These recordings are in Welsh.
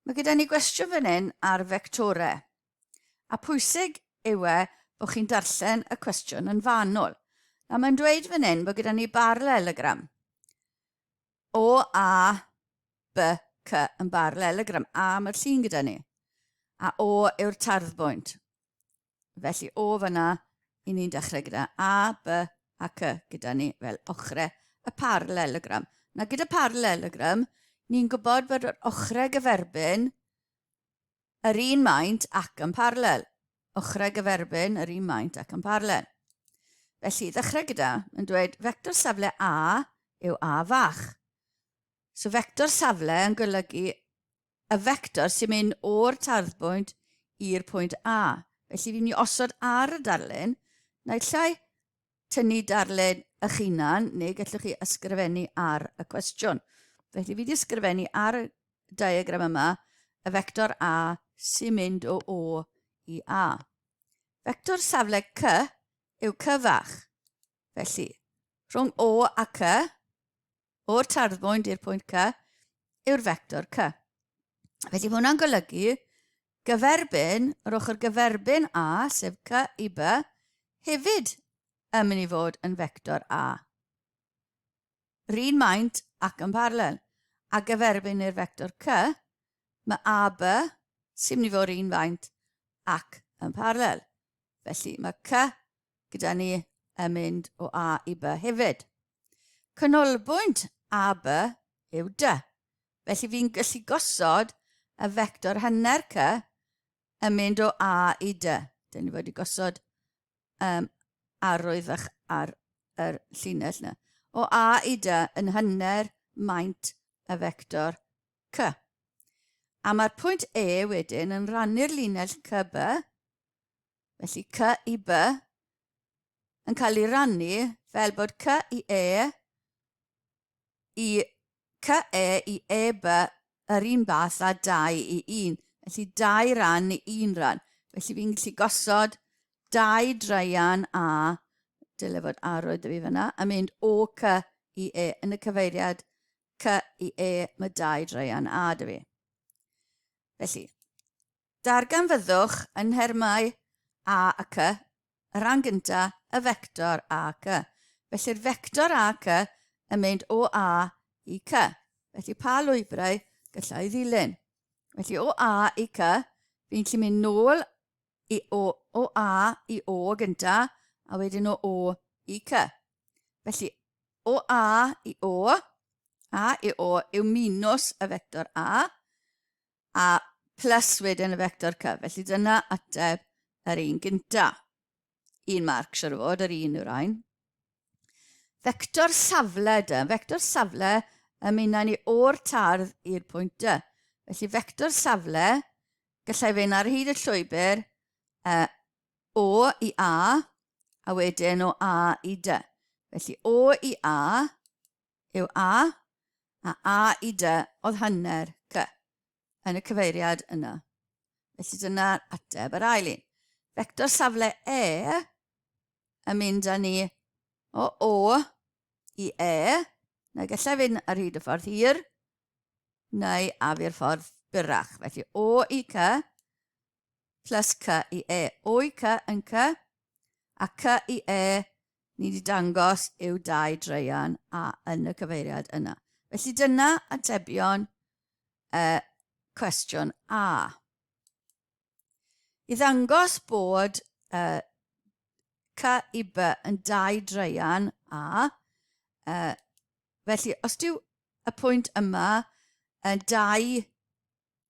Mae gyda ni gwestiwn fan hyn ar fectore. A pwysig yw e bod chi'n darllen y cwestiwn yn fanwl. A mae'n dweud fan hyn bod gyda ni barlelogram. O, A, B, C yn barlelogram. A mae'r llun gyda ni. A O yw'r tarddbwynt. Felly o fan'na i ni'n dechrau gyda A, B a C gyda ni fel ochrau y parallelogram. Na gyda parallelogram, ni'n gwybod bod yr ochrau gyferbyn yr un maint ac yn parallel. Ochrau gyferbyn yr un maint ac yn parallel. Felly, ddechrau gyda, yn dweud fector safle A yw A fach. So fector safle yn golygu y fector sy'n mynd o'r tarddbwynt i'r pwynt A. Felly fi'n mynd i osod ar y darlun, naill llai tynnu darlun eich hunan, neu gallwch chi ysgrifennu ar y cwestiwn. Felly fi wedi ysgrifennu ar y diagram yma y fector A sy'n mynd o O i A. Fector safle C yw cyfach. Felly, rhwng O a C, o'r tarddfwyn i'r pwynt C yw'r fector C. Felly mae hwnna'n golygu gyferbyn, yr ochr gyferbyn A, sef C i B, hefyd yn mynd i fod yn fector A. Rhyn maint ac yn paralel. A gyferbyn i'r fector C, mae AB sy'n mynd i fod rhyn faint ac yn paralel. Felly mae C gyda ni yn mynd o A i B hefyd. Canolbwynt A, B yw D. Felly fi'n gallu gosod y fector hanner C yn mynd o A i D. Dyn ni wedi gosod um, arwydd fach ar yr llinell yna. O A i D yn hanner maint y fector C. A mae'r pwynt E wedyn yn rannu'r linell CB, felly C i B, yn cael ei rannu fel bod cy i e i cy e i e by yr un fath a 2 i 1. Felly 2 ran i 1 ran. Felly fi'n gallu gosod 2 draian a dyle fod arwydd y fi fyna a mynd o cy i e yn y cyfeiriad cy i e mae 2 draian a dy fi. Felly, Darganfyddwch yn nhermau a ac y, y rhan gyntaf, y fector a ac y. Felly'r fector a ac y yn mynd o A i C. Felly pa lwybrau gallai ddilyn? Felly o A i C, fi'n gallu mynd nôl i o, o A i O gynta, a wedyn o O i C. Felly o A i O, A i O yw minus y fector A, a plus wedyn y vector cyf. Felly dyna ateb yr un gynta. Un marc, siwr o fod, yr un yw'r ein. Vector safle dy. Vector safle y mynna ni o'r tardd i'r pwynt dy. Felly vector safle, gallai fe'n ar hyd y llwybr uh, o i A, a wedyn o A i dy. Felly o i A, yw a, a a i dy oedd hanner cy yn y cyfeiriad yna. Felly dyna'r ateb yr ail un. Fector safle e yn mynd â ni o o i e, neu gallai fynd ar hyd y ffordd hir, neu afi'r ffordd byrrach. Felly o i cy, plus cy i e. O'i cy yn cy, a cy i e, ni wedi dangos yw dau dreian a yn y cyfeiriad yna. Felly dyna atebion y cwestiwn A. I ddangos bod y cy i B yn dau dreian A, uh, felly os dyw y pwynt yma yn dau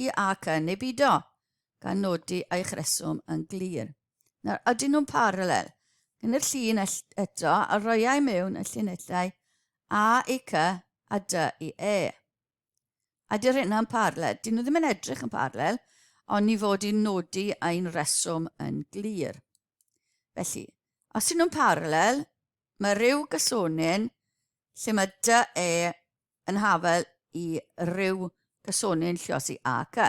i ac yn eu bido, gan nodi eich rheswm yn glir. Nawr, ydyn nhw'n parallel? Yn y llun eto, a roiau mewn y llinellau A i C a D i E. A dy'r hyn yn parallel? Dyn nhw ddim yn edrych yn parallel, ond ni fod i'n nodi ein reswm yn glir. Felly, os ydyn nhw'n parallel, mae rhyw gysonyn lle mae dy e yn hafel i ryw gysonyn lluosi a cy.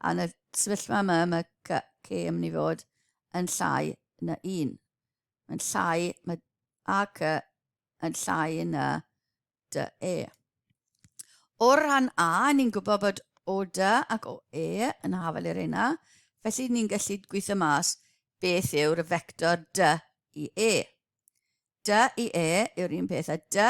A yn y sefyllfa yma, mae cy, cy yn mynd i fod yn llai na un. Mae'n llai, mae a cy yn llai na dy e. O'r rhan a, ni'n gwybod bod o dy ac o e yn hafel i'r hynna, felly ni'n gallu gweithio mas beth yw'r y fector dy i e. Dy i e yw'r un peth a dy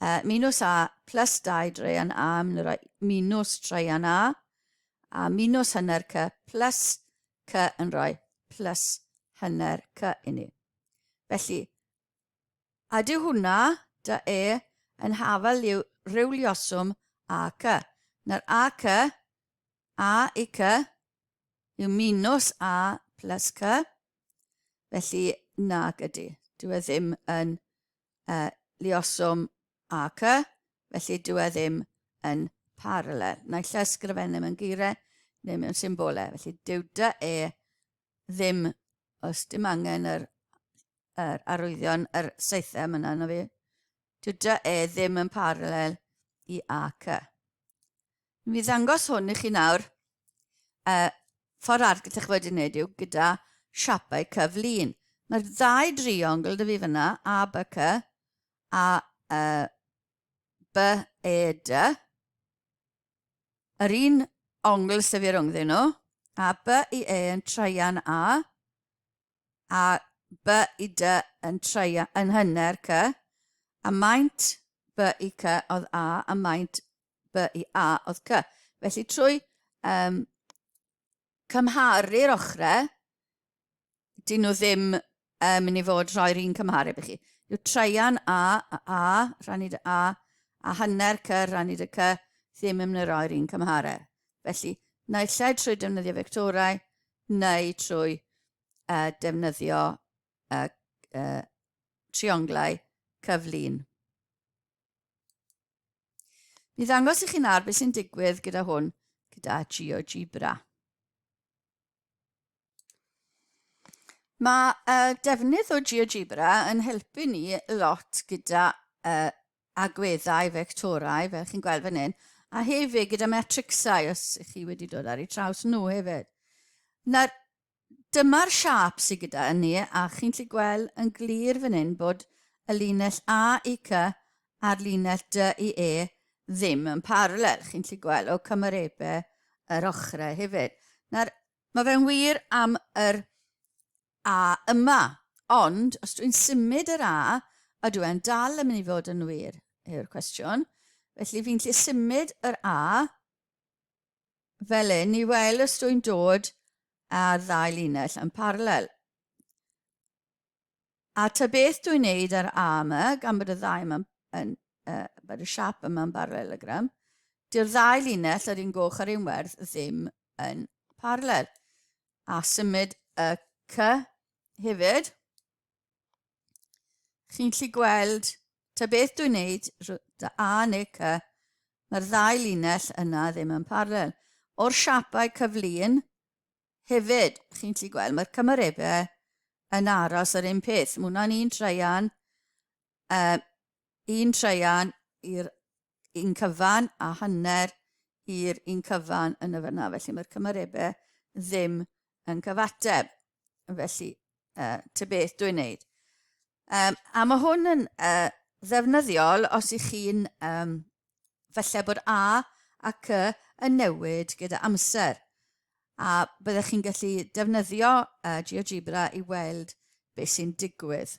A minws A plus 2 draean A yn yr A minws traean A a minws hanner C plus C yn rhoi plus hanner C i ni. Felly, a dyw hwnna, da e, yn hafel i'w rewlioswm A C. Na'r A C, A i C, yw minws A plus C, felly nag ydy. Dyw e ddim yn uh, lioswm ac y, felly dyw e ddim yn parallel. Neu llysgrifennu mewn geiriau neu mewn symbolau. Felly dyw dy e ddim, os dim angen yr, yr arwyddion, yr seithau yma na fi, dyw dy e ddim yn parallel i ac y. Mi ddangos hwn i chi nawr. Y ffordd arall gyda chi wedi wneud yw gyda siapau cyflun. Mae'r ddau driongl dy fi fyna, A, B, C, a e, B, E, D. Yr un ongl sydd fi rhwngddyn nhw, a B i E yn traian A, a by i dy yn treia yn hynner cy, a maint by i cy oedd a, a maint by i a oedd cy. Felly trwy um, cymharu'r ochrau, dyn nhw ddim um, mynd i fod rhoi'r un cymhareb i chi. Yw treian a, a, a, rhannu dy a, a hanner cy, rhannu dy cy, ddim yn mynd i roi'r un cymhareb. Felly, naill lle trwy defnyddio fectorau, neu trwy uh, defnyddio uh, uh, trionglau cyflun. Mi ddangos i chi nawr beth sy'n digwydd gyda hwn, gyda GeoGebra. Mae uh, defnydd o GeoGebra yn helpu ni lot gyda uh, agweddau fectorau, fel chi'n gweld fan hyn, a hefyd gyda matricsau, os ych chi wedi dod ar ei traws nhw hefyd. Nawr, dyma'r siap sydd gyda ni, a chi'n gallu gweld yn glir fan hyn bod y linell A i C a'r linell D i E ddim yn parallel. Chi'n gallu gweld o cymarebau yr ochrau hefyd. Nawr, mae fe'n wir am yr A yma. Ond, os dwi'n symud yr A, ydw e'n dal yn mynd i fod yn wir, yw'r cwestiwn. Felly, fi'n gallu symud yr A fel hyn i weld os dwi'n dod â'r ddau linell yn parallel. A ta beth dwi'n neud ar A yma, gan bod y ddau yma'n, yn, uh, bod y siap yma'n barallelogram, dyw'r ddau linell yr un goch a'r un werdd ddim yn parallel. a symud y cy hefyd. Chi'n gallu gweld ta beth dwi'n neud, dy A neu cy, mae'r ddau linell yna ddim yn parallel. O'r siapau cyflun hefyd, chi'n gallu gweld, mae'r cymarebau yn aros yr un peth. Mae hwnna'n un treian Yy, un traean i'r un cyfan a hanner i'r un cyfan yn y fyna. Felly mae'r cymarebau ddim yn cyfateb. Felly, uh, te beth dwi'n neud. Um, a mae hwn yn uh, ddefnyddiol os ych chi'n um, felly bod A a C yn newid gyda amser. A byddech chi'n gallu defnyddio uh, GeoGebra i weld beth sy'n digwydd.